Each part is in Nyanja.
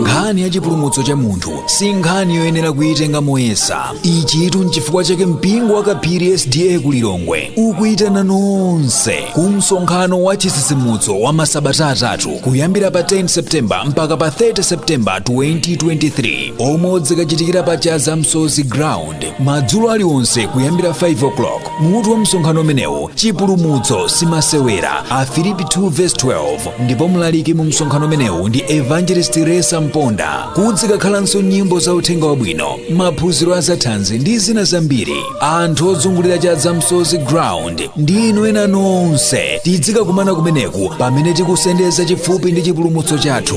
nkhani ya chipulumutso cha munthu si nkhani yoyenera kuyitenga moyesa ichitu nchifukwa chake mpingo wa kaphiri sda ku lilongwe ukuyitana nonse ku msonkhano wa chitsitsimutso wa masabata atatu kuyambira pa 10 septemba mpaka pa 30 septemba 2023 omwe udzikachitikira pa chaza msozi ground madzulo aliwonse kuyambira 5 o'clock mutu wa msonkhano umenewu chipulumutso simasewera afilipi 2 verse 12 ndipo mlaliki mu msonkhano umenewu ndi evangelist resa mponda kudzikakhalanso nyimbo za uthenga wabwino maphunziro azathanzi ndi zina zambiri anthu ozungulira chaza msozi ground ndi inu ena nonse tidzikakumana kumeneku pamene tikusendeza chifupi ndi chipulumutso chathu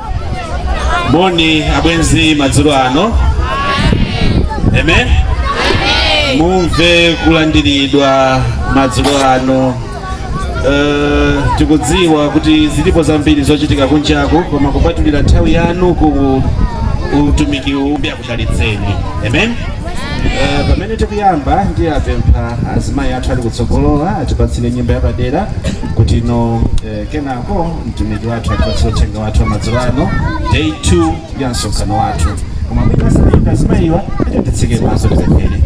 moni abwenzi madzulo ano amen mumve kulandiridwa madzulo ano Eh, tikudziwa kuti zilipo zambiri zochitika kunjaku koma kupatulira nthawi yanu ku utumiki umbya chalidzeni amen Eh, pamene tikuyamba ndiapempha azimayi athu ali kutsogolowa atipatsire nyimbo yapadera kutino eh, kenako mtumiki wathu atipatsire uthenga wathu wamadzulo ano day 2 ya msonkhano wathu koma mwina asamayimba azimayiwa tiyeni titseke maso tipemphere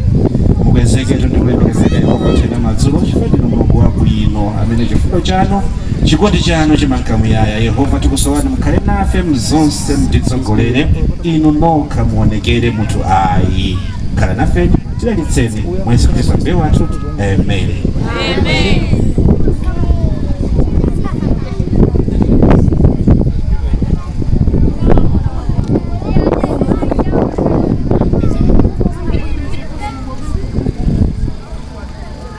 mukwezeke ndikulemekezeka yehova tena madzulo chifukwa ndinu mulungu wabwino amene chifundo chanu chikondi chanu chimanka muyaya yehova tikusowani mukhale nafe m'zonse mutitsogolere inu nokha muonekere munthu ayi khalani nafe tilakitseni mwa yesu khristu ambuye wathu amen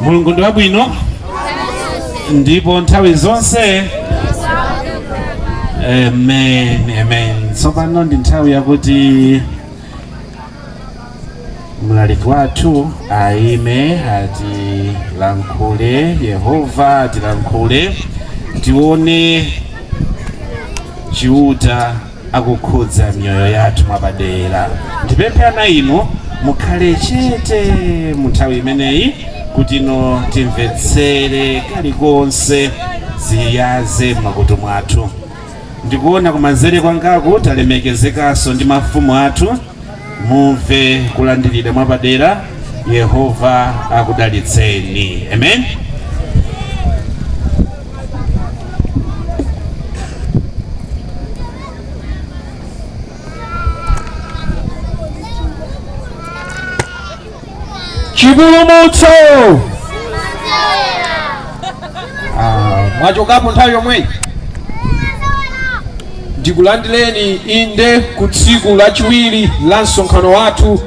mulungu ndi wabwino ndipo nthawi zonse amen amen tsopano ndi nthawi yakuti mlaliki wathu ayime atilankhule yehova atilankhule tione chiuta akukhudza miyoyo yathu mwapadera. Ndipemphe ana inu mukhale chete mu nthawi imeneyi kutino timvetsere kalikonse ziyaze m'makutu mwathu. Ndikuona kumanzere kwangaku talemekezekanso ndi mafumu athu mumve kulandiridwa mwapadera yehova akudalitseni amen chipulumutso Ah, mwachokapo nthawi yomweyi ndikulandireni inde ku tsiku lachiwiri la msonkhano wathu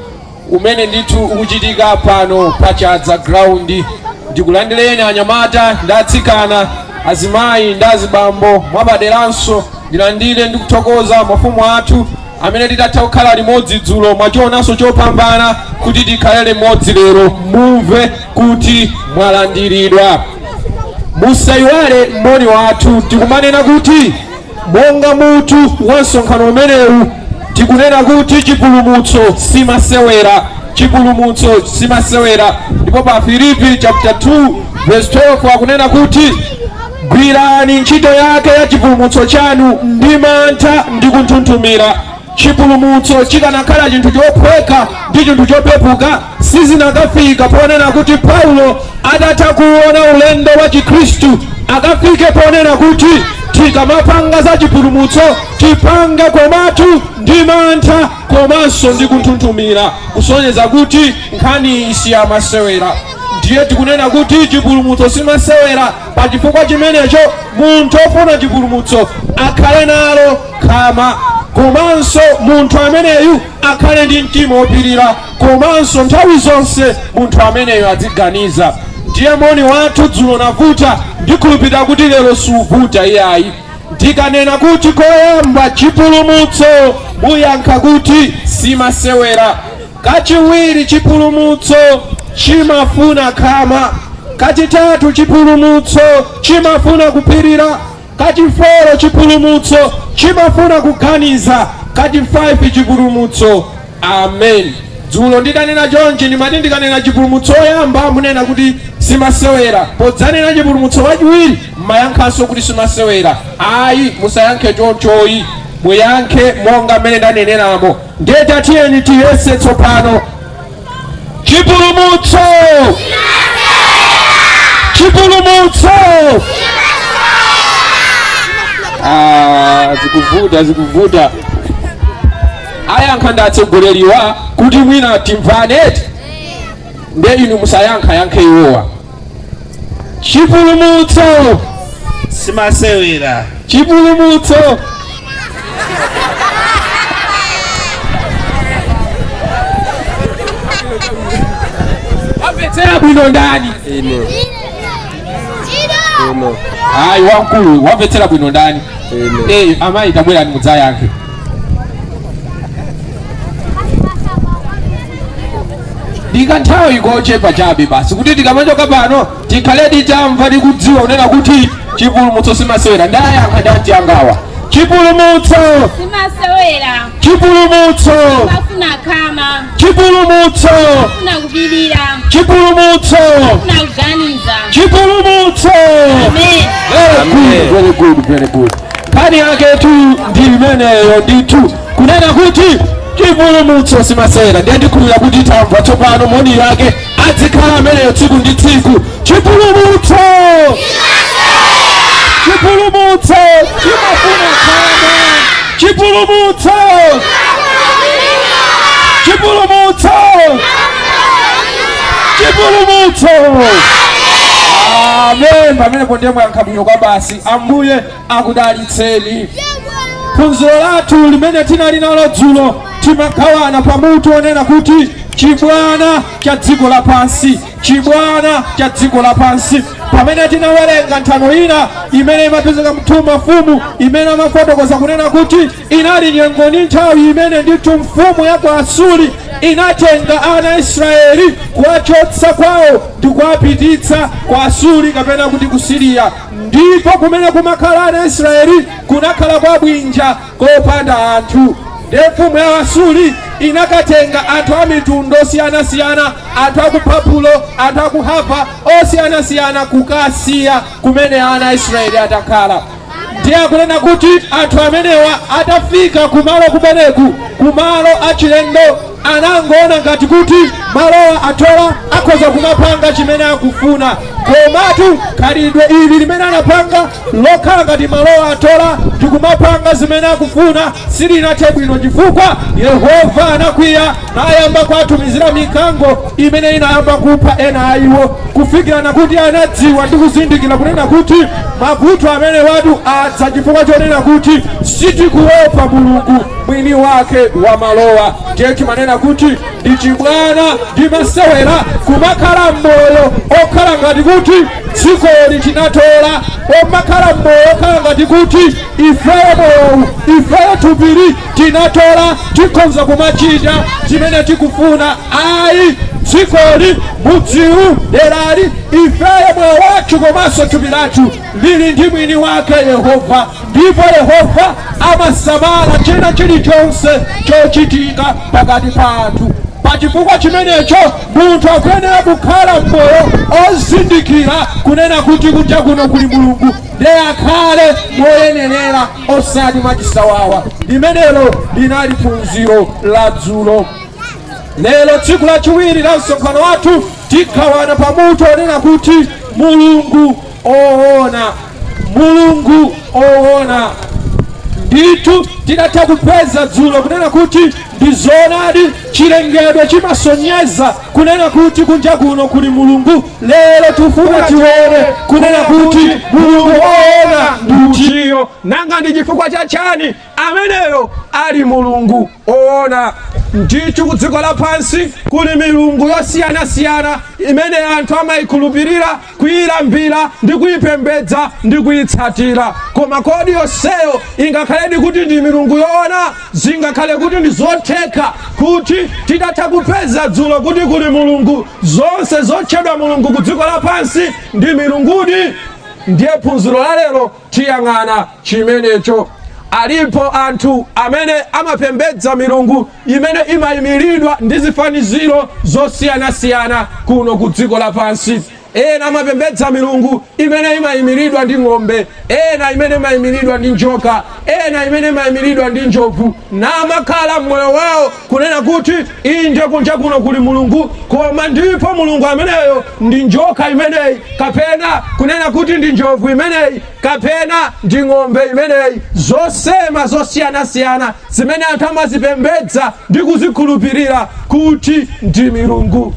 umene ndithu ukuchitika pano pa chadza ground ndikulandireni anyamata ndi atsikana azimayi ndi azibambo mwapaderanso ndilandire ndikuthokoza mafumu athu amene tidatha kukhala limodzi dzulo mwachionanso chopambana kuti tikhale limodzi lero mumve kuti mwalandiridwa musayiwale moni wathu tikumanena kuti monga mutu wa msonkhano umenewu tikunena kuti chipulumutso simasewera chipulumutso simasewera ndipo pa filipi chapter 2 verse 12 akunena kuti Gwirani ntchito yake ya chipulumutso chanu ndi mantha ndi kunthunthumira. Chipulumutso chikanakhala chinthu chophweka ndi chinthu chopepuka, sizinakafika ponena kuti Paulo atatha kuona ulendo wa Chikhristu akafike ponena kuti tikamapanga za chipulumutso tipange komatu ndi mantha komanso ndi kunthunthumira, kusonyeza kuti nkhaniyi si yamasewera. ndiye tikunena kuti chipulumutso simasewera pa chifukwa chimenecho munthu ofuna chipulumutso akhale nalo khama komanso munthu ameneyu akhale ndi mtima wopirira komanso nthawi zonse munthu ameneyu aziganiza ndiye moni wathu dzulo unavuta ndikhulupirira kuti lero suvuta iyayi ndikanena kuti koyamba chipulumutso muyankha kuti simasewera Kachiwiri, chipulumutso chimafuna khama. Kachitatu, chipulumutso chimafuna kupirira. Kachiforo, chipulumutso chimafuna kuganiza. Kachifaifi, chipulumutso Amen. Dzulo ndidanena chonchi ndimati ndikanena chipulumutso woyamba munena kuti simasewera, podzanena chipulumutso wachiwiri mumayankhanso kuti simasewera. Ayi, musayankhe choncho iyayi, muyankhe monga mmene ndaneneramo. Ndiye tatiyeni tiyese tsopano chipulumutso chipulumutso Ah, zikuvuta zikuvuta ayankhe ndi atsogoleriwa kuti mwina timvane eti nde inu musayankhe ayankhe iwowa chipulumutso simasewera chipulumutso wamvetsera bwino ndani ine ine ayi wamkulu wamvetsera bwino ndani ine Eh, amayi tabwerani mudzayankhe ndi kanthawi kochepa chabe basi kuti tikamachoka pano tikhale titamva tikudziwa kunena kuti chipulumutso simasewera ndayankha ndati angawa chipulumutso simasewera chipulumutso chimafuna khama chipulumutso chimafuna kupirira chipulumutso chimafuna kuganiza chipulumutso amen Very good, very good, very good. Nkhani yaketu ndi imeneyo ndithu kunena kuti chipulumutso simasewera ndiye ndikhulupirira kuti tamva tsopano moni yake adzikhala ameneyo tsiku ndi tsiku chipulumutso chipulumutso chimafuna khama chipulumutso chipulumutso chipulumutso amen pamenepo ndiye mwayankha bwino kwabasi ambuye akudalitseni. Phunzilo lathu limene tinali nalo dzulo timagawana pa mutu onena kuti chibwana cha dziko lapansi, chibwana cha dziko lapansi. Pamene tinawerenga nthano ina imene imapezeka m'2 Mafumu imene amafotokoza kunena kuti inali nyengo ndi nthawi imene ndithu mfumu ya ku Asuri inatenga ana a Israeli kuwachotsa kwawo ndi kuwapititsa ku Asuri kapena kuti ku Siriya. Ndipo kumene kumakhala ana Israeli, kunakhala kwa bwinja kopanda anthu. Ndiye mfumu ya Asuri inakatenga anthu a mitundu yosiyanasiyana, anthu a ku Babulo, anthu a ku Hava osiyanasiyana, kukawasiya kumene ana Israeli ankakhala. Ndiye akunena kuti anthu amenewa atafika kumalo kumeneku, kumalo achilendo anangoona ngati kuti malowa atola akhoza kumapanga chimene akufuna komatu khalidwe ili limene anapanga lokhala ngati malowa atola ndikumapanga zimene akufuna silinathe bwino chifukwa yehova anakwiya nayamba kuwatumizira mikango imene inayamba kupha ena a iwo kufikirana kuti anadziwa ndi kuzindikira kunena kuti mavuto amenewatu adza chifukwa chonena kuti sitikuopa mulungu mwini wake wa malowa ndiye timanena kuti ndi chibwana ndi masewera kumakhala mmoyo okhala ngati kuti dzikoli tinatola kumakhala mmoyo okhala ngati kuti ifeyo moyowu ifeyo thupili tinatola tikhonza kumachita zimene tikufuna ayi dzikoli mudziwu delali ifeyo moyo wathu komanso thupi lathu lili ndi mwini wake Yehova, ndipo Yehova amasamala china chilichonse chochitika pakati pa anthu. Pa chifukwa chimenecho munthu akuyenera kukhala m'moyo ozindikira kunena kuti kunja kuno kuli Mulungu, ndiye akhale moyenerera osati mwachisawawa. Limenelo linali phunziro la dzulo. Lero tsiku lachiwiri la msonkhano wathu tigawana pa mutu onena kuti Mulungu owona, Mulungu owona. Ndithu tidatha kupeza dzulo kunena kuti ndi zoonadi chilengedwe chimasonyeza kunena kuti kunja kuno kuli Mulungu. Lero tifuna tione kunena kuti Mulungu owona ndi utiyo, nanga ndi chifukwa cha chani? ameneyo ali mulungu oona ndithu ku dziko lapansi kuli milungu yosiyanasiyana imene anthu amayikhulupirira kuyilambira ndi kuyipembedza ndi kuyitsatira koma kodi yonseyo ingakhaledi kuti ndi milungu yoona zingakhale kuti ndi zotheka kuti tidatha kupeza dzulo kuti kuli mulungu zonse zotchedwa mulungu ku dziko lapansi ndi milungudi ndiye phunziro la lero tiyang'ana chimenecho. Alipo anthu amene amapembedza milungu imene imayimiridwa ndi zifaniziro zosiyanasiyana kuno ku dziko lapansi. Ena amapembedza milungu imene imayimiridwa ndi ng'ombe, ena imene imayimiridwa ndi njoka, ena imene imayimiridwa ndi njovu. namakhala m'moyo wao kunena kuti inde kunja kuno kuli mulungu koma ndipo mulungu ameneyo ndi njoka imeneyi kapena kunena kuti ndi njovu imeneyi kapena ndi ng'ombe imeneyi zosema zosiyanasiyana zimene anthu amazipembedza ndi kuzikhulupirira kuti ndi milungu.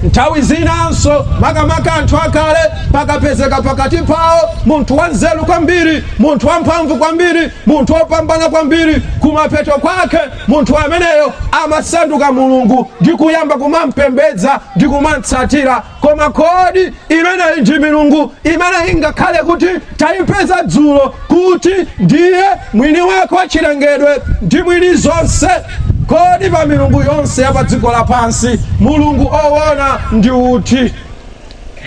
Nthawi zinanso, makamaka anthu akale, pakapezeka pakati pawo munthu wanzeru kwambiri, munthu wamphamvu kwambiri, munthu wopambana kwambiri, kumapeto kwake munthu ameneyo amasanduka mulungu ndi kuyamba kumampembedza ndi kumamtsatira. koma kodi imeneyi ndi milungu imene ingakhale kuti tayipeza dzulo kuti ndiye mwini wake wa chilengedwe ndi mwini zonse kodi pa milungu yonse ya pa dziko lapansi mulungu owona ndi uti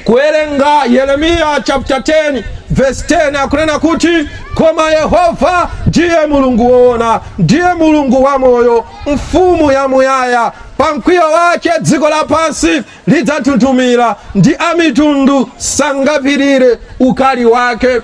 kuwerenga yeremiya chapter 10 verse 10 akunena kuti koma yehova ndiye mulungu woona ndiye mulungu wamoyo mfumu yamuyaya pa mkwiyo wake dziko lapansi lidzanthunthumira ndi amitundu sangapirire ukali wake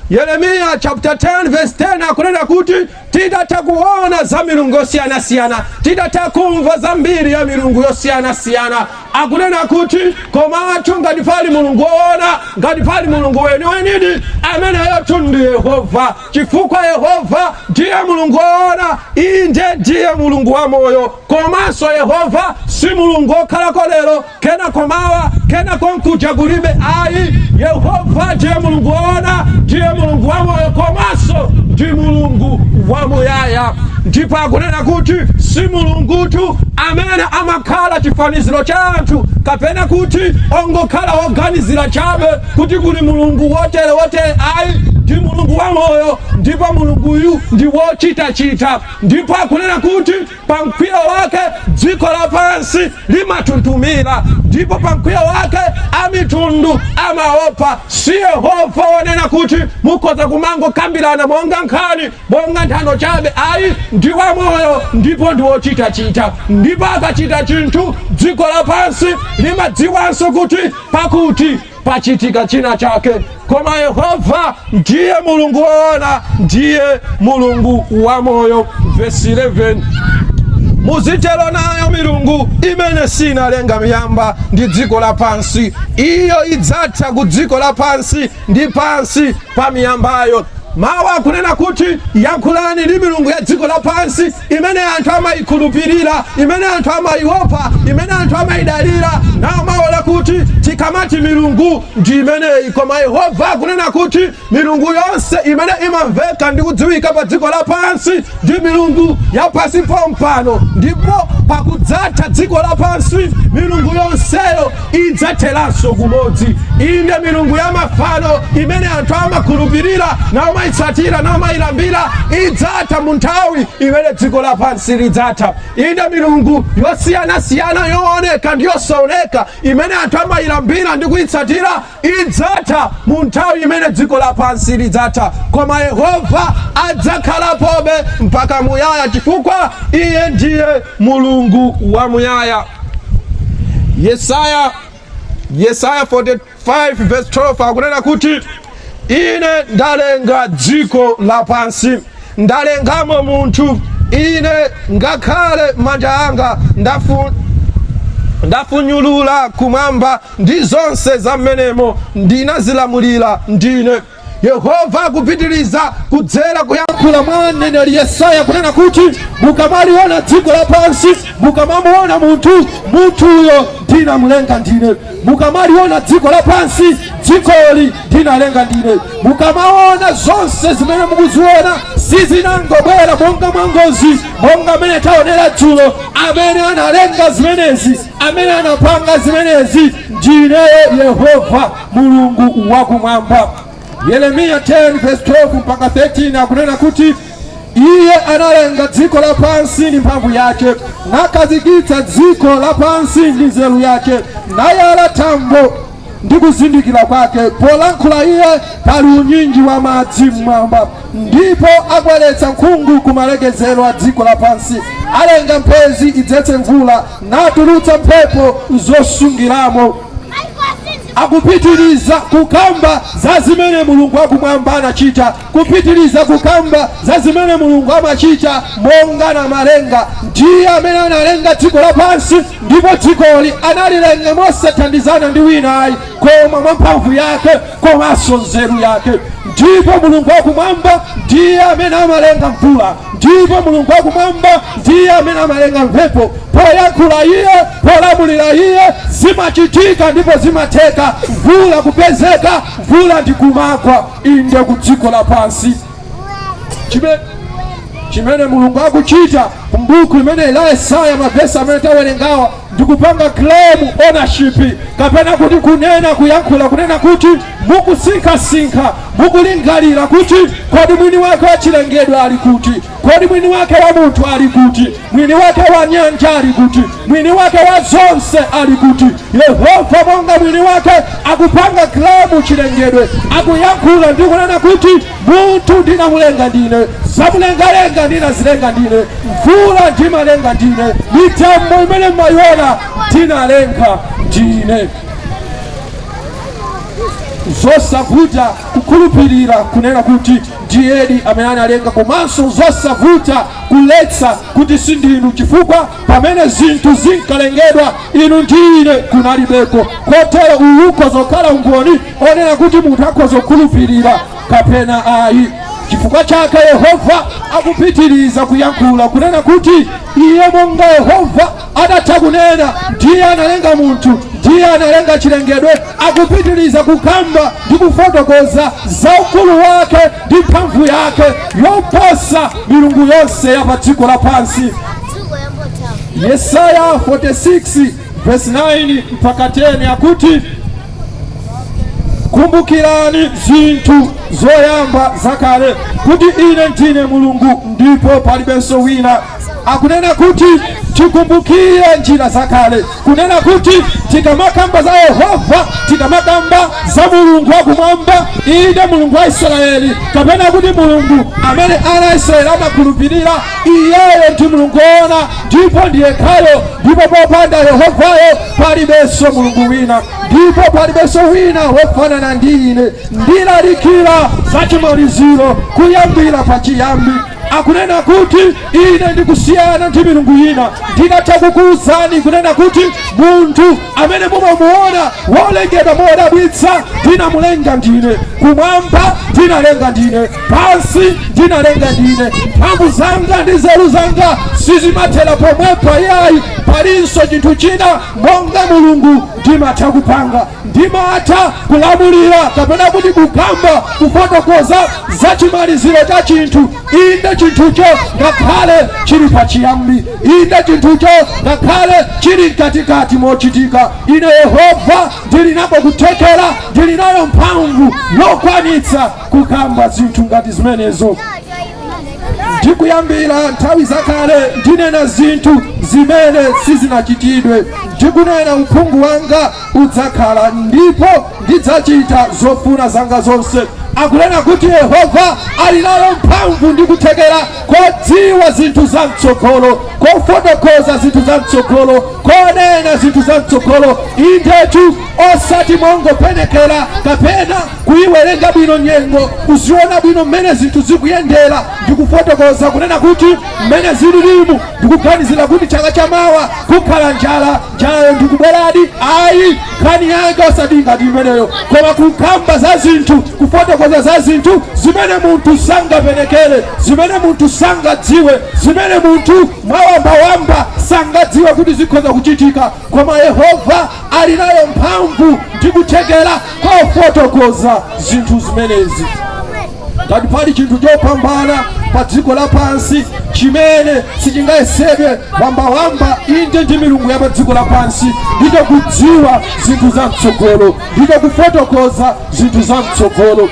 yeremiya chapter 10 verse 10 akunena kuti titatha kuona za milungu yosiyanasiyana titatha kumva za mbiri ya milungu yosiyanasiyana akunena kuti komatu ngati pali mulungu woona ngati pali mulungu weniwenidi ameneyotu ndi yehova chifukwa yehova ndiye mulungu woona inde ndiye mulungu wamoyo komanso yehova si mulungu wokhalako lero kenako mawa kenako nkuja kulibe ayi yehova ndiye mulungu woona ndiye mulungu wamoyo komanso ndi mulungu wamuyaya ndipo akunena kuti si mulungutu amene amakhala chifaniziro cha anthu kapena kuti ongokhala woganizira chabe kuti kuli Mulungu wotere wotere ayi, ndi Mulungu wamoyo, ndipo Mulunguyu ndi wochitachita, ndipo akunena kuti pa mkwiyo wake dziko lapansi limanthunthumira, ndipo pa mkwiyo wake amitundu amaopa. Si Yehova wonena kuti mukhoza kumangokambirana monga nkhani, monga nthano chabe ayi, ndi wamoyo ndipo ndi wochitachita, ndipo akachita chinthu dziko lapansi limadziwanso kuti pakuti pachitika china chake koma yehova ndiye mulungu woona ndiye mulungu wamoyo vesi 11 muzitero nayo milungu imene sinalenga miyamba ndi dziko lapansi iyo idzatha ku dziko lapansi ndi pansi pa miyambayo mawu akunena kuti yankhulani ndi milungu ya dziko lapansi imene anthu amayikhulupirira imene anthu amayiopa imene anthu amayidalira naomaona kuti tikamati milungu ndi imeneyi koma yehova akunena kuti milungu yonse imene imamveka ndi kudziwika pa dziko lapansi ndi milungu yapansi pompano ndipo pakudzatha dziko lapansi milungu yonseyo idzatheranso kumodzi inde milungu ya mafano imene anthu amakhulupirira naomayitsatira naomayilambira idzatha mu nthawi imene dziko lapansi lidzatha inde milungu yosiyanasiyana yooneka ndi yosaoneka imene anthu amayilambira ndi kuyitsatira idzatha mu nthawi imene dziko lapansi lidzatha koma yehova adzakhalapobe mpaka muyaya chifukwa iye ndiye mulungu wa muyaya yesaya yesaya 45 verse 12 akunena kuti ine ndalenga dziko lapansi ndalengamo munthu ine ngakhale manja anga ndafunyulula kumwamba ndi zonse za mmenemo ndinazilamulira ndine yehova akupitiriza kudzera kuyankhula kwa mneneri yesaya kunena kuti mukamaliona dziko lapansi mukamamuona munthu munthuyo ndinamulenga ndine mukamaliona dziko lapansi dzikoli ndinalenga ndine mukamaona zonse zimene mukuziona sizinangobwera monga mwangozi monga amene taonera dzulo amene analenga zimenezi Amene anapanga zimenezi ndi ineyo Yehova Mulungu wakumwamba. Yeremiya 10 verse 12 mpaka 13 akunena kuti iye analenga dziko lapansi ndi mphamvu yake, nakhazikitsa dziko lapansi ndi nzeru yake, nayala thambo ndi kuzindikira kwake polankhula iye pali unyinji wa madzi mmwamba ndipo akweretsa nkhungu ku malekezero a dziko lapansi alenga mphezi idzetse mvula natulutsa mphepo zosungiramo akupitiriza kukamba za zimene mulungu wakumwamba anachita kupitiliza kukamba za zimene Mulungu amacita monga Namalenga. Ndiye amene analenga dziko lapansi, ndipo dzikoli analilenga mosathandizana ndi wina ayi, koma mwa mphamvu yake komanso nzelu yake. Ndipo Mulungu wa kumwamba ndiye amene amalenga mvula, ndipo Mulungu wa kumwamba ndiye amene amalenga mphepo. Poyankhula iye, polamulila iye, zimacitika ndipo zimatheka mvula kupezeka, mvula ndi kumagwa. inde ku dziko lapansi chimene mulungu akuchita mbuku imene la yesaya mavesi amene tawerengawa ndikupanga claim ownership kapena kuti kunena kuyankhula kunena kuti mukusinkhasinkha mukulingalira kuti kodi mwini wake wachilengedwe ali kuti Kodi mwini wake wa munthu ali kuti? Mwini wake wa nyanja ali kuti? Mwini wake wa zonse ali kuti? Yehova monga mwini wake akupanga claim chilengedwe, akuyankhula ndi kunena kuti munthu ndinamulenga ndine, zamulengalenga ndinazilenga ndine, mvula ndimalenga ndine, mitambo imene mmayiona ndinalenga ndine. Zosavuta kukhulupirira kunena kuti ndiyedi amene analenga komanso zosavuta kuletsa kuti sindinu chifukwa pamene zinthu zinkalengedwa inu ndi ine kunalibeko kotero uwu ukhoza kukhala umboni wonena kuti munthu akhoza kukhulupirira kapena ayi chifukwa chake yehova akupitiriza kuyankhula kunena kuti iye monga yehova Atatha kunena, Ndiye analenga munthu, Ndiye analenga chilengedwe, akupitiriza kukamba ndi kufotokoza za ukulu wake ndi mphamvu yake yoposa milungu yonse ya pa dziko lapansi. Yesaya 46 verse 9 mpaka 10 akuti, kumbukirani zinthu zoyamba zakale, kuti ine ndine Mulungu ndipo palibenso wina, akunena kuti tikumbukire njira zakale kunena kuti tikamakamba za yehova tikamakamba za mulungu wakumwamba inde mulungu wa israeli kapena kuti mulungu amene ana a israeli amakhulupirira iyeyo ndi mulungu woona ndipo ndi yekhayo ndipo popanda yehovayo palibenso mulungu wina ndipo palibenso wina wofanana ndi ine ndilalikira za chimaliziro kuyambira pachiyambi akunena kuti ine ndikusiyana ndi milungu ina ndinatha kukuwuzani kunena kuti munthu amene mumamuona wolengedwa modabwitsa ndinamulenga ndine kumwamba ndinalenga ndine pansi ndinalenga ndine mphamvu zanga ndi nzeru zanga sizimathera pomwepo iyayi palinso chinthu china monga mulungu ndimatha kupanga Ndimatha kulamulira, kapena kuti kukamba, kufotokoza za chimaliziro cha chinthu, inde, chinthucho ngakhale chili pachiyambi, inde, chinthucho ngakhale chili mkatikati mochitika. Ine Yehova ndili nako kuthekera, ndili nayo mphamvu yokwanitsa kukamba zinthu ngati zimenezo. Ndikuyambira nthawi zakale ndinena zinthu zimene sizinachitidwe, ndikunena uphungu wanga udzakhala ndipo ndidzachita zofuna zanga zonse. Akunena kuti Yehova ali nayo mphamvu ndi kuthekera kodziwa zinthu za mtsogolo, kofotokoza zinthu za mtsogolo, konena zinthu za mtsogolo, indetu osati mongopenekera kapena kuyiwerenga bwino nyengo, kuziona bwino mmene zinthu zikuyendera ndi kufotokoza kunena kuti mmene zililimu ndikuganizira kuti chaka chamawa kukhala njala njalayo ndikubweradi ayi nkhani yake osati ngati imeneyo koma kukamba za zinthu kufotokoza za zinthu zimene munthu sangapenekere zimene munthu sangadziwe zimene munthu mwawambawamba sangadziwe kuti zikhoza kuchitika koma yehova ali nayo mphamvu ndi kuthekera kofotokoza zinthu zimenezi ngati pali chinthu chopambana pa dziko lapansi chimene sichingayesedwe wambawamba inde ndi milungu ya pa dziko lapansi ndicho kudziwa zinthu za mtsogolo ndicho kufotokoza zinthu za mtsogolo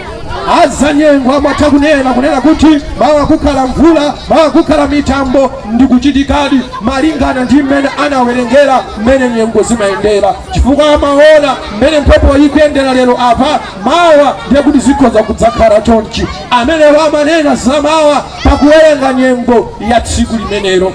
azanyengo amatha kunena kunena kuti mawa kukhala mvula mawa kukhala mitambo ndikuchitikadi malingana ndi mmene anawerengera mmene nyengo zimayendera chifukwa amaona mmene mphepo ikuyendera lero apa mawa ndiye kuti zikhoza kudzakhala chonchi amenewo amanena za mawa pakuwerenga nyengo ya tsiku limenelo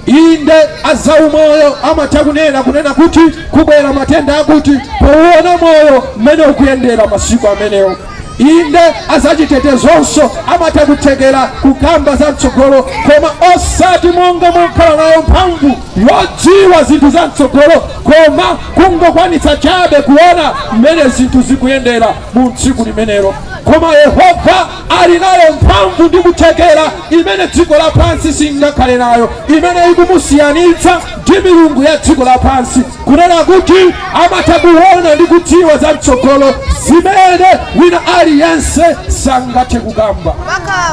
inde azaumoyo amatha kunena kunena kuti kubwera matenda akuti pouona moyo mmene ukuyendera masiku amenewo inde azachitetezonso amatha kuthekera kukamba za mtsogolo koma osati monga mokhala nayo mphamvu yodziwa zinthu za mtsogolo koma kungokwanitsa chabe kuona mmene zinthu zikuyendera mu tsiku limenelo koma yehova ali nayo mphamvu ndi kuthekera imene dziko lapansi singakhale nayo imene ikumusiyanitsa ndi milungu ya dziko lapansi kunena kuti amatha kuona ndi kudziwa za mtsogolo zimene wina aliyense sangathe kukamba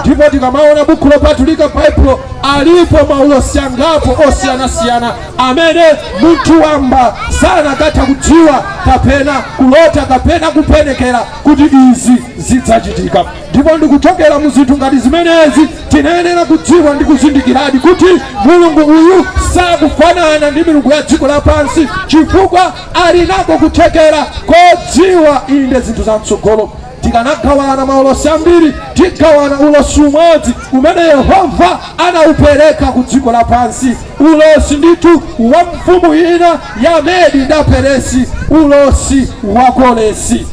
ndipo tikamaona buku lopatulika baibulo Alipo maulosi angapo osiyanasiyana amene munthu wamba sanakatha kudziwa kapena kulota kapena kupenekera kuti izi zidzachitika, ndipo ndikuchokera mu zinthu ngati zimenezi timayenera kudziwa ndi kuzindikiradi kuti Mulungu uyu sakufanana ndi milungu ya dziko lapansi, chifukwa ali nako kuthekera kodziwa inde zinthu za mtsogolo. tikanagawana maulosi ambiri tigawana ulosi umodzi umene yehova anaupereka ku dziko lapansi ulosi ndithu wa mfumu ina ya medi ndi perisi ulosi wa koresi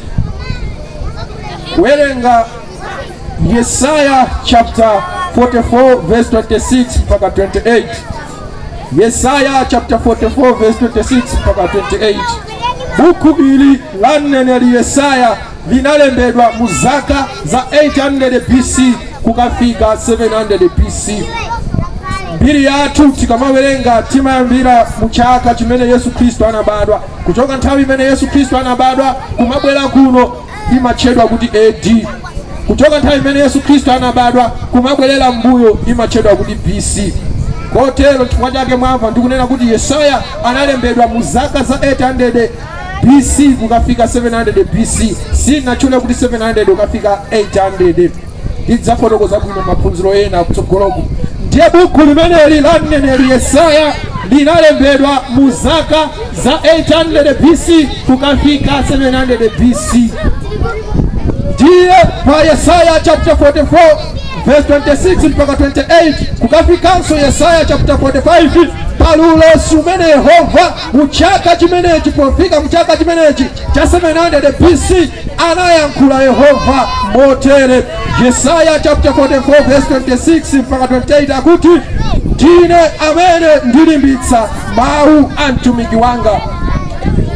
kuwerenga yesaya chapter 44 verse 26 mpaka 28 Yesaya chapter 44 verse 26 mpaka 28. Buku ili la mneneri Yesaya linalembedwa mu zaka za 800 BC kukafika 700 BC. Mbiri yathu tikamawerenga timayambira mu chaka chimene Yesu Khristu anabadwa, kuchoka nthawi imene Yesu Khristu anabadwa kumabwera kuno imatchedwa kuti A.D. Kuchoka nthawi imene Yesu Khristu anabadwa kumabwerera m'mbuyo imatchedwa kuti B.C. Kotero chifukwa chake mwamva ndikunena kuti Yesaya analembedwa mu zaka za 800 B.C. kukafika 700 B.C. Sinatchule kuti 700 kukafika 800 ndidzafotokoza bwino maphunziro ena kutsogoloku ndiye buku limeneli la mneneri yesaya linalembedwa mu zaka za 800 bc kukafika 700 bc ndiye pa yesaya chapter 44 verse 26 mpaka 28 kukafikanso yesaya chapter 45 pali ulosi umene yehova mu chaka chimenechi pofika mu chaka chimenechi cha 700 bc Anayankhula Yehova motere, Yesaya chapter 44 verse 26 mpaka 28 akuti, ndine amene ndilimbitsa mawu a mtumiki wanga.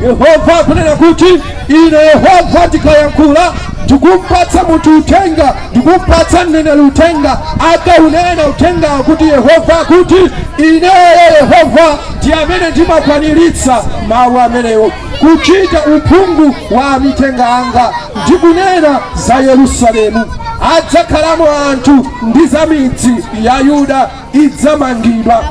Yehova akunena kuti ine Yehova ndikayankhula ndikumpatsa munthu uthenga, ndikumpatsa mneneri uthenga, akaunena uthenga kuti Yehova akuti ineyo Yehova ndi amene ndimakwaniritsa mawu amenewo. kuchita uphungu wa amithenga anga ndi kunena za yerusalemu adzakhalamo anthu ndi za midzi ya yuda idzamangidwa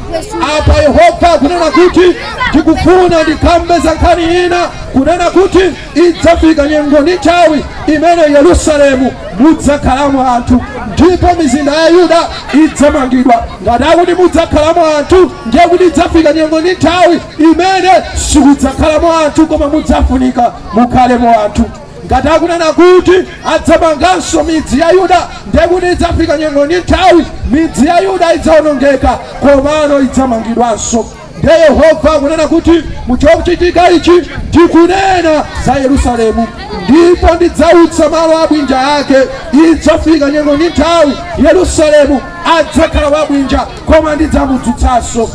apa yehova akunena kuti ndikufuna ndikambe za nkhani ina kunena kuti idzafika nyengo ndi nthawi imene yerusalemu mudzakhalamo anthu ndipo mizinda ya yuda idzamangidwa ngati akuti mudzakhalamo anthu ndiye kuti idzafika nyengo ndi nthawi imene sikudzakhalamo anthu koma mudzafunika mukhalemo anthu ngati akunena kuti adzamanganso midzi ya yuda ndekuti idzafika nyengo ndi nthawi midzi ya yuda idzawonongeka komano idzamangidwanso nde yehova akunena kuti muchochitika ichi ndi kunena za yerusalemu ndipo ndidzautsa malo abwinja ake idzafika nyengo ndi nthawi yerusalemu adzakhala wabwinja koma ndidzamudzutsanso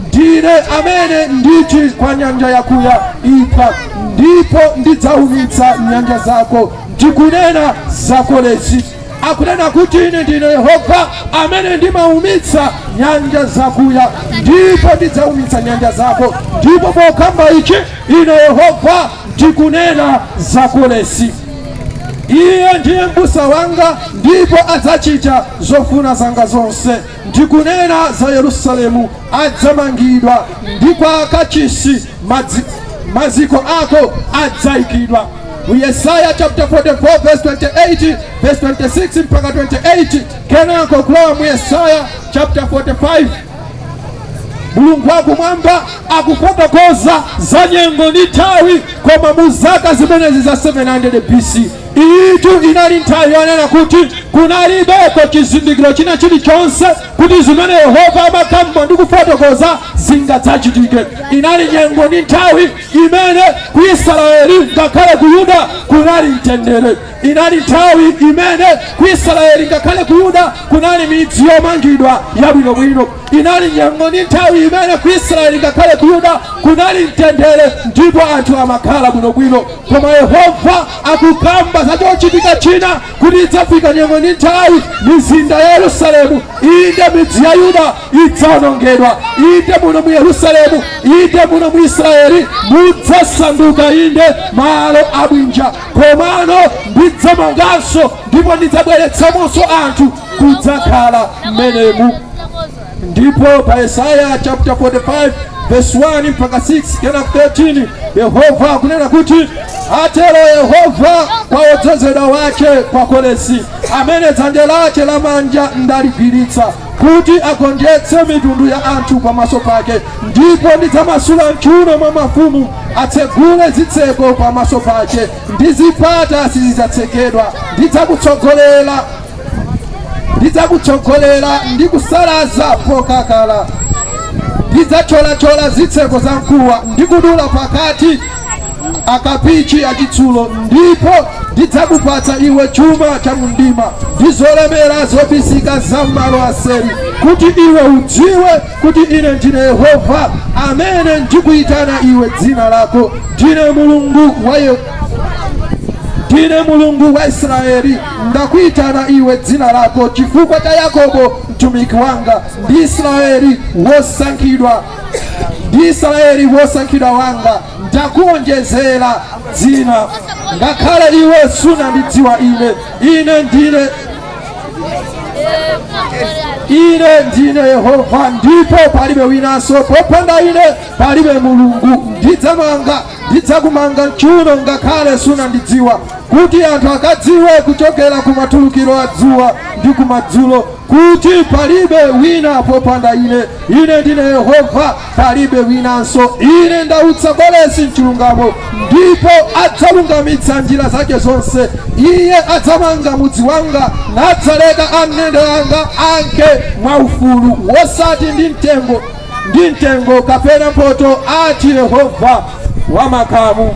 ndine amene nditi kwa nyanja yakuya iphwa ndipo ndidzaumitsa nyanja zako ndi kunena za koresi akunena kuti ine ndine yehova amene ndimaumitsa nyanja zakuya ndipo ndidzaumitsa nyanja zako ndipo pokamba ichi ine yehova Ndikunena za Koresi. Iye ndiye m'busa wanga ndipo adzachita zofuna zanga zonse. Ndi kunena za Yerusalemu, adzamangidwa ndi kwa Kachisi maziko ako adzaikidwa. Mu Yesaya chapter 44 verse 28 verse 26 mpaka 28, kenako kulowa mu Yesaya chapter 45 mulungu wakumwamba akufotokoza za nyengo ndi nthawi koma mu zaka zimenezi za 700 bc iyitu inali nthawi yonena kuti kunalibeko chizindikiro china chilichonse kuti zimene yehova amakamba ndi kufotokoza zingadzachitike inali nyengo ndi nthawi imene ku israeli ngakhale ku yuda kunali mtendere Inali nthawi imene ku Isiraeli ngakhale ku Yuda kunali midzi yomangidwa yabwinobwino. Inali nyengo ndi nthawi imene ku Isiraeli ngakhale ku Yuda kunali mtendere ndipo anthu amakhala bwinobwino. Koma Yehova akukamba za chochitika china kuti idzafika nyengo ndi nthawi mizinda ya Yerusalemu, inde midzi ya Yuda idzawonongedwa. Inde muno mu Yerusalemu, inde muno mu Isiraeli mudzasanduka inde malo abwinja. Komano ndidzamanganso ndipo ndidzabweretsamonso anthu kudzakhala mmenemu. Ndipo pa Yesaya chapter 45 verse 1 mpaka 6 kena 13 Yehova akunena kuti atero Yehova kwa wodzozedwa wake kwa Koresi amene dzanja lake lamanja ndaligwiritsa kuti agonjetse mitundu ya anthu pamaso pake ndipo ndidzamasula mchuuno mwa mafumu atsegule zitseko pamaso pake ndi zipata sizidzatsekedwa ndidzakutsogolera ndidzakutsogolera ndi kusalaza pokakala ndidzathyolathyola zitseko za mkuwa ndi kudula pakati akapichi achitsulo ndipo ndidzakupatsa iwe chuma cha mumdima ndi zolemera zobisika za m'malo aseri kuti iwe udziwe kuti ine ndine yehova amene ndikuyitana iwe dzina lako ndine mulungu wa Ye- ndine mulungu wa israeli ndakuyitana iwe dzina lako chifukwa cha yakobo mtumiki wanga ndi israeli wosankhidwa ndi Israeli wosankhidwa wanga ndakuonjezera dzina, ngakhale iwe sunandidziwa ine. Ine ndine ine ndine Yehova, ndipo palibe winanso. Popanda ine palibe Mulungu. Ndidzamanga, ndidzakumanga mchuuno ngakhale sunandidziwa, kuti anthu akadziwe kuchokera kumatulukiro a dzuwa ndi kumadzulo kuti palibe wina popanda ine ine ndine yehova palibe winanso ine ndautsa koresi mchilungamo ndipo adzalungamitsa njira zake zonse iye adzamanga mudzi wanga nadzaleka amndende anga anke mwaufulu wosati ndi mtengo ndi mtengo kapena mphotho ati yehova wamakamu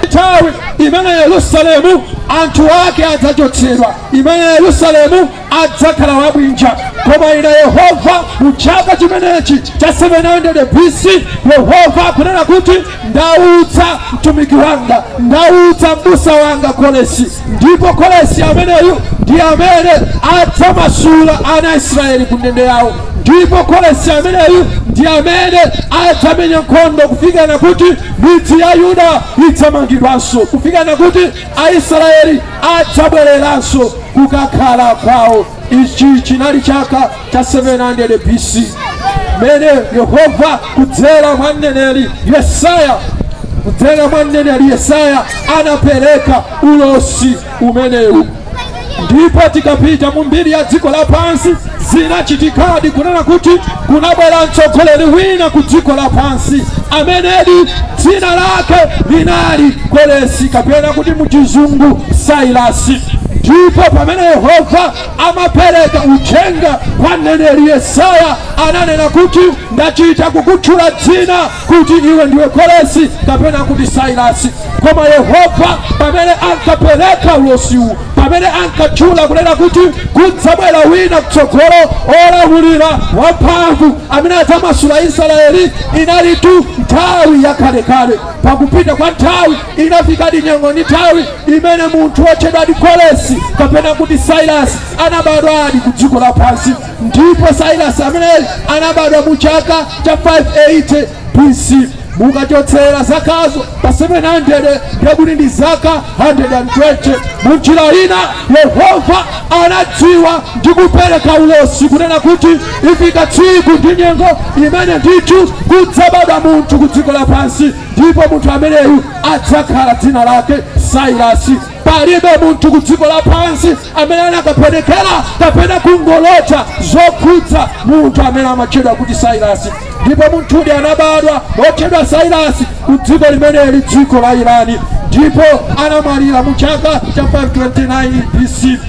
nthawi imene yerusalemu anthu ake adzachotsedwa imene yerusalemu adzakhala wabwinja koma ine yehova mu chaka chimenechi cha 700 bc yehova akunena kuti ndautsa mtumiki wanga ndautsa mbusa wanga koresi ndipo koresi ameneyu ndi amene adzamasula ana a israeli ku ndende yawo ndipo koresi ameneyu ndi amene adzamenya nkhondo kufikana kuti Midzi ya Yuda idzamangidwanso kufikana kuti Aisraeli adzabwereranso kukakhala kwawo. Ichi chinali chaka cha 700 BC mene Yehova kudzera mwa mneneri Yesaya kudzera mwa mneneri Yesaya anapereka ulosi umenewu ndipo tikapita mu mbiri ya dziko lapansi zinachitikadi kunena kuti kunabwera mtsogoleri wina ku dziko lapansi amenedi dzina lake linali koresi kapena kuti muchizungu sailasi ndipo pamene yehova amapereka uthenga kwa mneneri yesaya ananena kuti ndachita kukutchula dzina kuti iwe ndiwe koresi kapena kuti sailasi koma yehova pamene ankapereka ulosiwu pamene ankatchula kunena kuti kudzabwera wina kutsogolo olamulira wamphamvu amene adzamasula israeli inalitu nthawi yakalekale pakupita kwa nthawi inafikadi nyengo ndi nthawi imene munthu wotchedwadi koresi kapena kuti sairasi anabadwadi ku dziko lapansi ndipo sairasi ameneyi anabadwa mu chaka cha 580 bc mukachotsera zakazo pa 700 ndekuti ndi zaka 120 munjira ina yehova anadziwa ndi kupereka ulosi kunena kuti ifika tsiku ndi nyengo imene ndithu kudzabadwa munthu ku dziko lapansi ndipo munthu ameneyu adzakhala dzina lake sairasi palibe munthu ku dziko lapansi amene akanapenekera kapena kungolota zokhudza munthu amene amatchedwa kuti sairasi ndipo munthudi anabadwa wotchedwa sairasi ku dziko limeneli dziko la irani ndipo anamwalira mu chaka cha 529 bc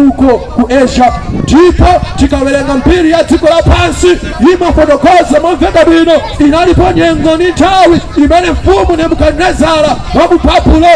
uko ku asia ndipo tikawerenga mbiri ya dziko lapansi imafotokoza momveka bwino Inalipo nyengo ndi nthawi imene Mfumu Nebukadinezara wa mu Babulo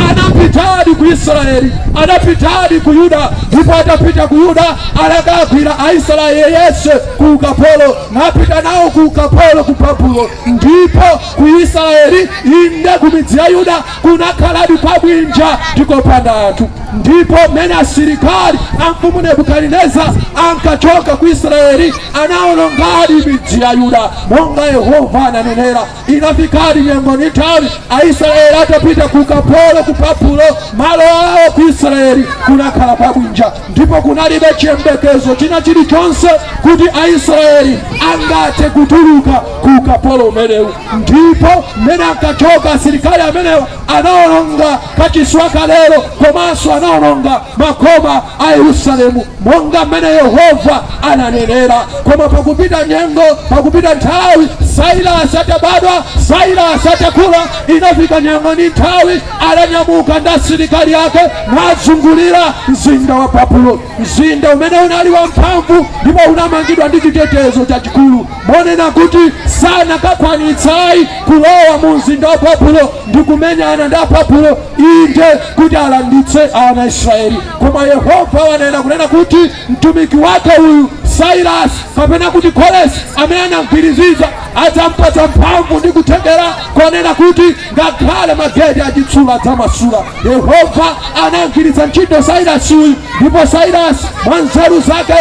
anapitadi ku Isiraeli, anapitadi ku Yuda, ndipo atapita ku Yuda anakagwira Aisiraeli onse ku ukapolo, napita nawo ku ukapolo ku Babulo, ndipo ku Isiraeli, inde ku midzi ya Yuda kunakhaladi pabwinja ndi kopanda anthu ndipo mmene asilikali a mfumu nebukadinezara ankachoka ku israeli anawonongadi midzi ya yuda monga yehova ananenera inafikadi nyengo ndi nthawi aisraeli atapita ku ukapolo ku babulo malo awo ku israeli kunakhala pabwinja ndipo kunalibe chiyembekezo china chilichonse kuti aisraeli angathe kutuluka ku ukapolo umenewu ndipo mmene ankachoka asilikali amenewa anaononga kachiswa kalero komanso anaononga makoma a yerusalemu monga mmene yehova ananenera koma popita nyengo popita nthawi sailasi atabadwa sailasi atakula inafika nyengo ndi nthawi adanyamuka ndi asilikali ake nazungulira mzinda wa Babulo, mzinda umene unali wamphamvu ndipo unamangidwa ndi chitetezo chachikulu, monena kuti sanakakwanitsayi kulowa mu mzinda wa Babulo ndi kumenyana ndi Ababulo, inde kuti alanditse ana Israeli. Koma Yehova ananena kunena kuti Mtumiki wake uyu Sailasi, kapena kuti Koresi, amene anamgwiriziza, adzampatsa mphamvu ndi kuthekera konena kuti ngakhale mageti achitsulo adzamasula. Yehova anamgwiritsa ntchito Sailasi uyu, ndipo Sailasi mwa nzeru zake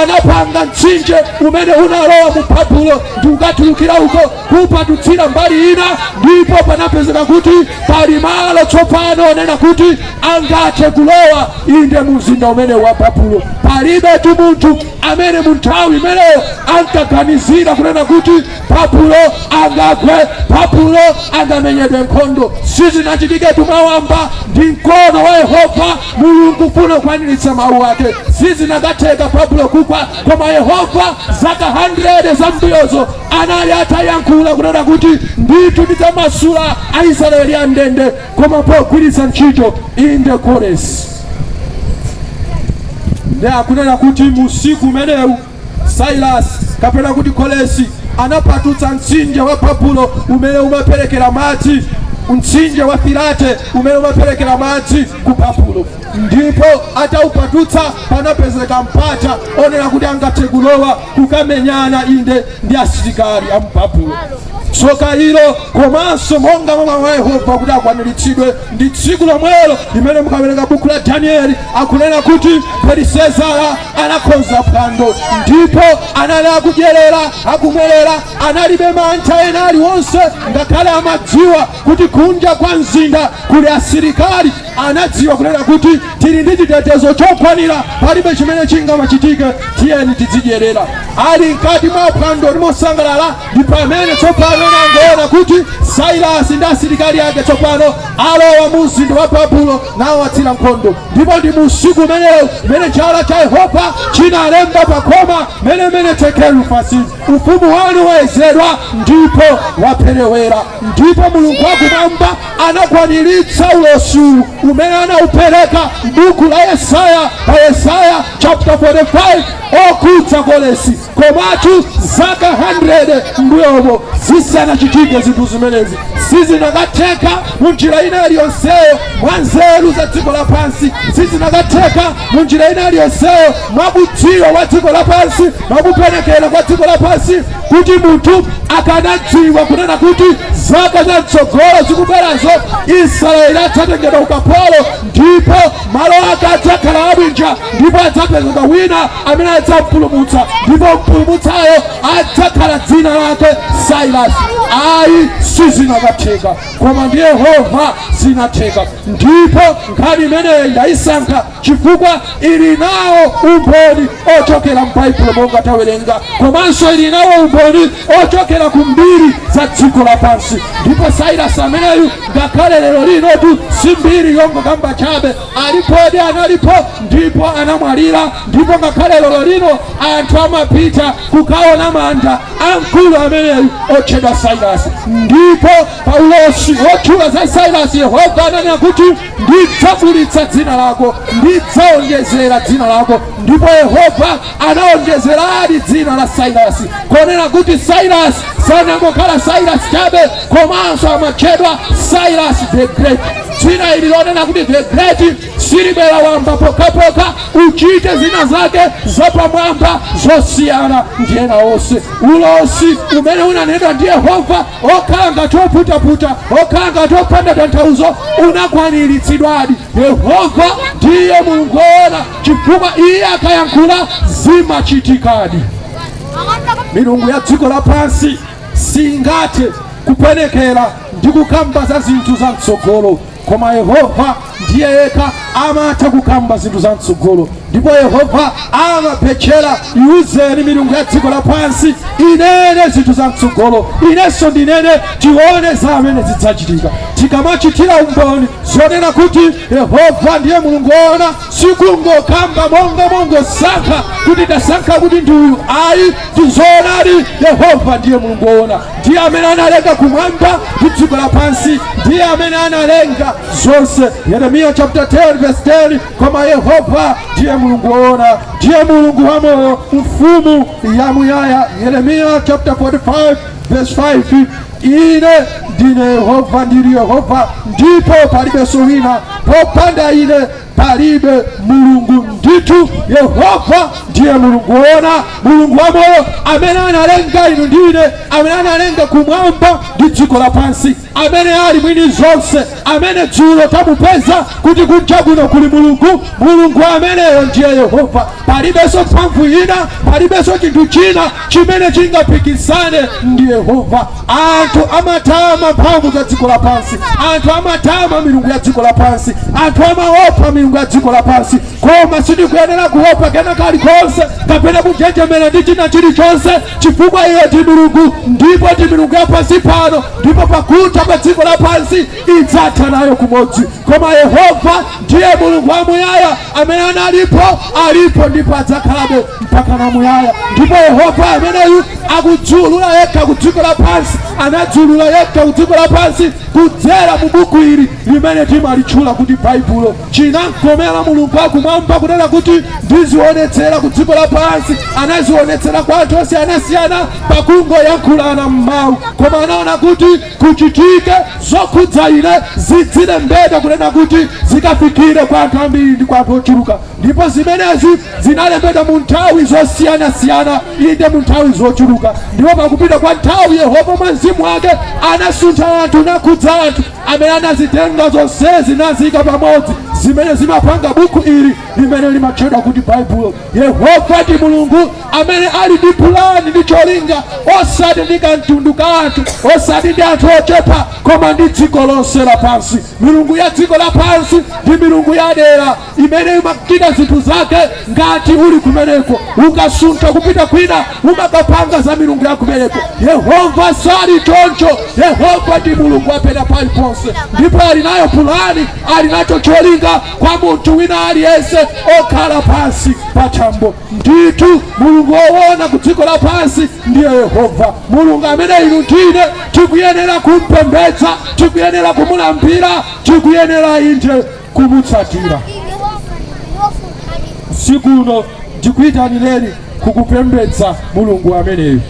anapanga mtsinje umene unalowa mu Babulo ndi kukatulukira uko kuupatutsira mbali ina, ndipo panapezeka kuti pali malo tsopano onena kuti angathe kulowa inde mu mzinda umene wa babulo palibetu munthu amene mu nthawi imeneyo ankaganizira kunena kuti babulo angagwe babulo angamenyedwe nkhondo sizinachitiketu mwawamba ndi mkono wa yehova mulungu pofuna kukwaniritsa mawu ake sizinakatheka babulo kugwa koma yehova zaka 100 zambuyozo anali atayankhula kunena kuti ndithu ndidzamasula aisraeli am'ndende koma pogwiritsa ntchito inde koresi ndi akunena kuti musiku umenewu sailasi kapena kuti koresi anapatutsa mtsinje wa babulo umene umaperekera madzi mtsinje wa firate umene umaperekera madzi ku babulo ndipo ataupatutsa panapezeka mpata wonena kuti angathe kulowa kukamenyana inde ndi asilikali a mu Babulo. Tsoka ilo komanso monga mwa mawu a Yehova kuti akwaniritsidwe ndi tsiku lomwelo limene mukawerenga buku la Danieli akunena kuti Belisezara anakonza phwando ndipo anali akudyerera akumwerera analibe mantha ena aliwonse ngakhale amadziwa kuti kunja kwa mzinda kuli asilikali, anadziwa kunena kuti tili ndi chitetezo chokwanira, palibe chimene chingamachitike, tiyeni tizidyerera. Ali mkati mwa phwando ndi kusangalala, ndi pamene tsopano anangoona kuti Sailasi ndi asilikali ake tsopano alowa mu mzinda wa Babulo nawatsira nkhondo, ndipo ndi mu usiku umenewu umene chala cha Yehova chinalemba pa khoma mene mene tekelu fasi ufumu wanu wayesedwa ndipo waperewera. Ndipo Mulungu wakumwamba anakwaniritsa ulosi uwu umene anaupereka m'buku la Yesaya pa Yesaya chapter 45 okhudza Koresi, komatu zaka 100 mbuyomo zisanachitike zinthu zimenezi sizinakatheka mu njira ina iliyonseyo mwa nzeru za dziko lapansi, sizinakatheka mu njira ina iliyonseyo mwa kudziwa kwa dziko lapansi, mwa kupenekera kwa dziko lapansi. kuti munthu akanadziwa kunena kuti zaka za mtsogolo zikubwerazo israeli adzatengedwa ukapolo ndipo malo ake adzakhala abwinja ndipo adzapezeka wina amene adzampulumutsa ndipo mpulumutsayo adzakhala dzina lake sairasi ayi sizinakatheka koma ndi yehova zinatheka ndipo nkhani imeneyo ndayisankha chifukwa ili nawo umboni ochokera m'baibulo monga tawerenga komanso ili nawo umboni ochokera ku mbiri za dziko lapansi ndipo sairasi ameneyu ngakhale lero linotu si mbiri yongokamba chabe alipodi analipo ndipo anamwalira ndipo ngakhale lero lino anthu amapita kukaona manda a mkulu ameneyu otchedwa sairasi ndipo paulosi wotchula za sairasi yehova ananena kuti ndidzakulitsa dzina lako, ndidzaonjezera dzina lako. Ndipo Yehova anaonjezeradi dzina la Sairasi, konena kuti Sairasi sanangokhala Sairasi chabe, komanso amatchedwa Sairasi the Great. Dzina ili lonena kuti the Great silibwera wamba pokhapokha uchite zina zake zapamwamba zosiyana ndi ena onse. Ulosi umene unanenedwa ndi Yehova okhala ngati oputaputa okhala ngati opanda tanthauzo unakwaniritsidwadi yehova ndiye mulungu woona chifukwa iye akayankhula zimachitikadi milungu ya dziko lapansi singathe kupenekera ndi kukamba za zinthu za mtsogolo koma yehova ndiye yekha amatha kukamba zinthu za mtsogolo ndipo yehova amabetchera iuzeni milungu ya dziko lapansi inene zinthu za mtsogolo inenso ndinene tione za amene zidzachitika tikamachitira umboni zonena kuti yehova ndiye mulungu woona sikungokamba monga mongosankha kuti tasankha kuti ndi uyu ayi ndi zoonadi yehova ndiye mulungu woona ndiye amene analenga kumwamba ndi dziko lapansi ndiye amene analenga zonse yeremiya chapter 10 verse 10 koma yehova ndiye mulungu woona ndiye mulungu wamoyo mfumu yamuyaya yeremiya chapter 45 verse 5 ine ndine yehova ndiri yehova ndipo palibenso wina popanda ine palibe mulungu ndithu yehova ndiye mulungu woona mulungu wamoyo amene analenga inu ndi ine amene analenga kumwamba ndi dziko lapansi amene ali mwini zonse amene dzulo tamupeza kuti kunja kuno kuli mulungu mulungu ameneyo ndiye yehova Palibenso mphamvu ina, palibenso chinthu china chimene chingapikisane ndi Yehova. Anthu amatama mphamvu za dziko lapansi, anthu amatama milungu ya dziko lapansi, anthu amaopa milungu ya dziko lapansi, koma sitikuyenera kuopa kena kalikonse kapena kunjenjemera ndi china chilichonse, chifukwa iyo ndi milungu ndipo ndi milungu ya pansi pano, ndipo pakutha kwa dziko lapansi idzatha nayo kumodzi koma yehova ndiye mulungu wamuyaya amene analipo alipo ndipo adzakhalabe mpaka na muyaya ndipo yehova ameneyu akudziulula yekha ku dziko lapansi anadziulula yekha ku dziko lapansi kudzera mu buku ili limene timalitchula kuti baibulo chinamkomera mulungu akumwamba kunena kuti ndizionetsera ku dziko lapansi anazionetsera kwa anthu osiyanasiyana pakungoyankhulana m'mawu koma anaona kuti zochitika zokhudza ine zidzilembedwa, kunena kuti zikafikire kwa anthu ambiri ndi kwa anthu ochuluka. Ndipo zimenezi zinalembedwa mu nthawi zosiyanasiyana, inde, mu nthawi zochuluka. Ndipo pakupita kwa nthawi, Yehova mwa mzimu wake anasuntha anthu, nakhudza anthu amene anazitenga zonsezi naziika pamodzi, zimene zimapanga buku ili limene limatchedwa kuti Baibulo. Yehova ndi Mulungu. amene ali ndi pulani ndi cholinga osati ndi kamtundu ka anthu osati ndi anthu ochepa koma ndi dziko lonse lapansi milungu ya dziko lapansi ndi milungu ya dera imene imachita zinthu zake ngati uli kumeneko ukasuntha kupita kwina umakapanga za milungu ya kumeneko yehova sali choncho yehova ndi mulungu wa pena paliponse ndipo ali nayo pulani ali nacho cholinga kwa munthu wina aliyense okhala pansi pa thambo Ndithu Mulungu woona ku dziko lapansi ndiye Yehova, Mulungu amene inu ndi ine tikuyenera kum'pembedza, tikuyenera kumulambira, tikuyenera inde kumutsatira. Usiku uno ndikuyitanireni kukupembedza Mulungu ameneyu.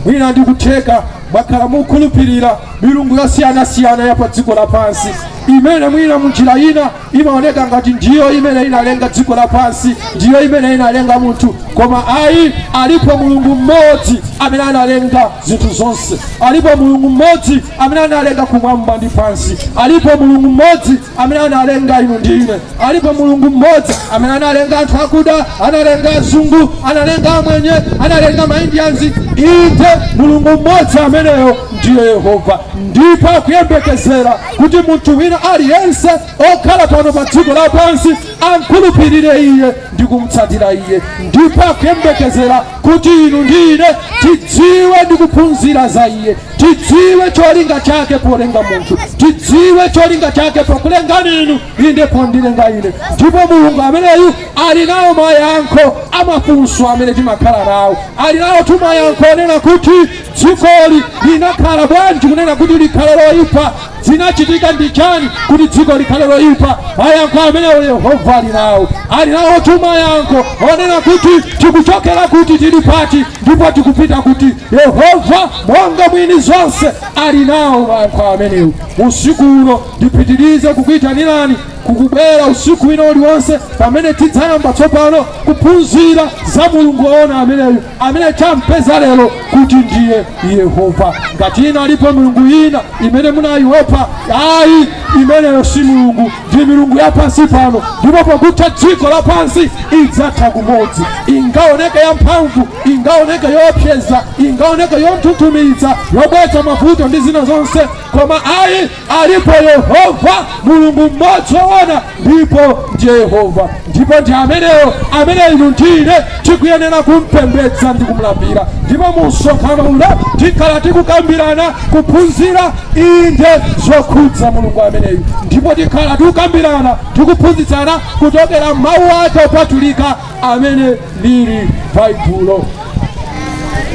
Mwina ndikutheka mwakhala mukhulupirira milungu yosiyanasiyana ya pa dziko lapansi imene mwina munjira ina imaoneka ngati ndiyo imene inalenga dziko lapansi ndiyo imene inalenga munthu koma ayi alipo mulungu mmodzi amene analenga zinthu zonse alipo mulungu mmodzi amene analenga kumwamba ndi pansi alipo mulungu mmodzi amene analenga inu ndi ine alipo mulungu mmodzi amene analenga anthu akuda analenga azungu analenga amwenye analenga maindianzi inde mulungu mmodzi ameneyo ndiye yehova ndipo akuyembekezera kuti munthu wina aliyense okhala pano pa dziko lapansi amkhulupirire iye ndi kumtsatira iye ndipo akuyembekezera kuti inu ndi ine tidziwe ndi kuphunzira za iye tidziwe cholinga chake polenga munthu tidziwe cholinga chake pokulengani inu inde pondilenga ine ndipo mulungu ameneyu ali nawo mayankho amafunso amene timakhala nawo ali nawonso mayankho onena kuti dzikoli linakhala bwanji kunena kuti likhale loyipa zinachitika ndi chani kuti dziko likhale loyipa mayankho amenewo yehova ali nawo ali nawo mayankho onena kuti tikuchokera kuti tili pati ndipo tikupita kuti yehova monga mwini zonse ali nawo mayankho amenewo usiku uno ndipitirize kukuyitanirani kukubwera usiku wina uliwonse pamene tidzayamba tsopano kuphunzira za mulungu woona ameneyu amene tampeza lero kuti ndiye yehova ngati ina alipo milungu ina imene munayiopa ayi imeneyo si milungu ndi milungu ya pansi pano ndipo pakutha dziko lapansi idzatha kumodzi ingaoneke yamphamvu ingaoneke yoopseza ingaoneke yonthunthumitsa yobweretsa mavuto ndi zina zonse koma ayi alipo yehova mulungu mmodzi woona ndipo ndiye yehova ndipo ndi ameneyo amene inu ndine tikuyenera kumpembedza ndi kumlambira ndipo mu msonkhano uno tikhala tikukambirana kuphunzira inde zokhudza mulungu ameneyu ndipo tikhala tikukambirana tikuphunzitsana kuchokera mawu ake opatulika amene ali baibulo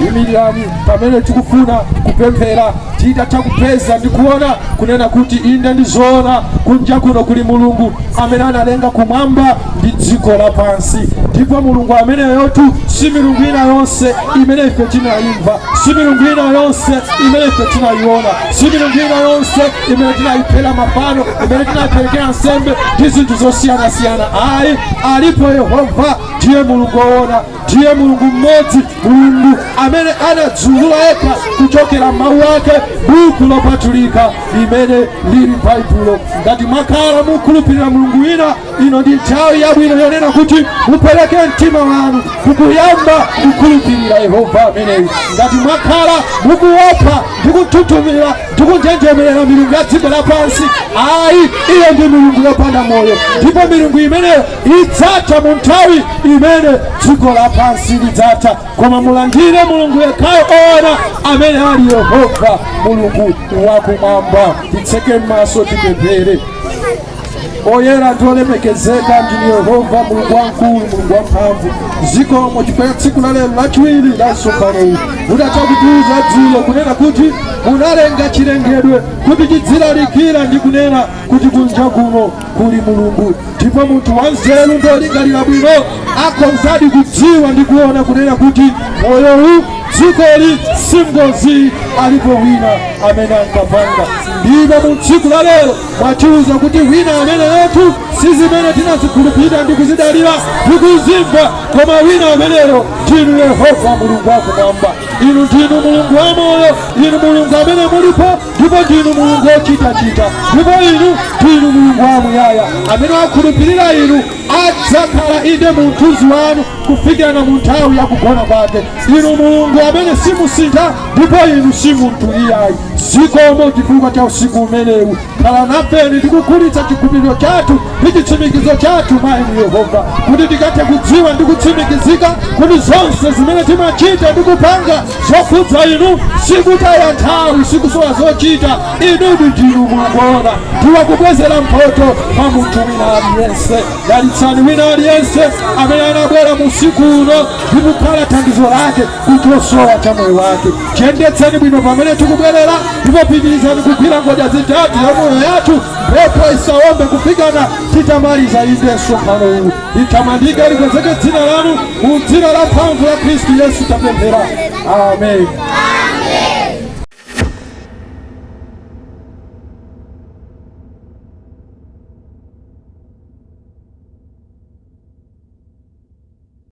imirirani pamene tikufuna kupemphera titatha kupeza ndi kuona kunena kuti inde ndizoona kunja kuno kuli mulungu amene analenga kumwamba ndi dziko lapansi ndipo mulungu ameneyotu si milungu ina yonse imene ife tinayimva si milungu ina yonse imene ife tinayiona si milungu ina yonse imene tinayiphera mafano imene tinayipelekera nsembe ndi zinthu zosiyanasiyana ayi alipo yehova ndiye mulungu woona ndiye mulungu mmodzi mulungu amene anadziulula yekha kuchokera mawu ake buku lopatulika limene lili baibulo ngati mwakhala mukhulupirira mulungu wina ino ndi nthawi yabwino yonena kuti mupereke mtima wanu kukuyamba kukhulupirira yehova ameneyu ngati mwakhala mukuopa ndi kunthunthumira ndi kunjenjemerera milungu ya dziko lapansi ayi iyo ndi milungu yopanda moyo ndipo milungu imeneyo idzatha mu nthawi imene dziko lapansi lidzatha koma mulandire mulungu yekhayo oona amene ali yehova mulungu wakumwamba titseke m'maso tipemphere oyera ndi olemekezeka ndinu yehova mulungu wamkulu mulungu wamphamvu zikomo chifukwa cha tsiku la lero lachiwiri la msonkhanowu mudatha kutiuza dzulo kunena kuti munalenga chilengedwe kuti chidzilalikira ndi kunena kuti kunja kuno kuli mulungu ndipo munthu wanzeru ndi olingalira bwino akhozadi kudziwa ndi kuona kunena kuti moyowu dzikoli si ngozi alipo wina amene ankapanga ndipo mu tsiku la lero mwatiuza kuti wina ameneyotu si zimene timazikhulupirira ndi kuzidalira ndi kuzimva koma wina ameneyo ndinu yehova mulungu wakumwamba inu ndinu mulungu wamoyo inu mulungu amene mulipo ndipo ndinu mulungu wochitachita ndipo inu ndinu mulungu wamuyaya amene wakhulupirira inu adzakhala inde mu mthunzi wanu kufikira na munthawi yakugona kwake inu mulungu amene simusintha ndipo inu si munthu iyayi zikomo chifukwa cha usiku umenewu khala nafeni ndikukulitsa chikhulupiriro chathu ndi chitsimikizo chathu mwa inu yehova kuti tikathe kudziwa ndi kutsimikizika kuti zonse zimene timachita ndi kupanga zokhudza inu sikutaya nthawi sikusowa zochita inudi ndinu mukuona ndi wakubwezera mphoto kwa munthu wina aliyense dalitsani wina aliyense amene anabwera mu usiku uno ndi kukhala thandizo lake ku chosowa cha moyo wake. Tiyendetseni bwino pamene tikubwerera, ndipo pitirizani kugwira ngodya zitatu ya moyo yathu, mphepo isaombe kufikana titamaliza inde msonkhano uwu. Litamandike likwezeke dzina lanu, mu dzina la mphamvu la Khristu Yesu tapemphera, amen.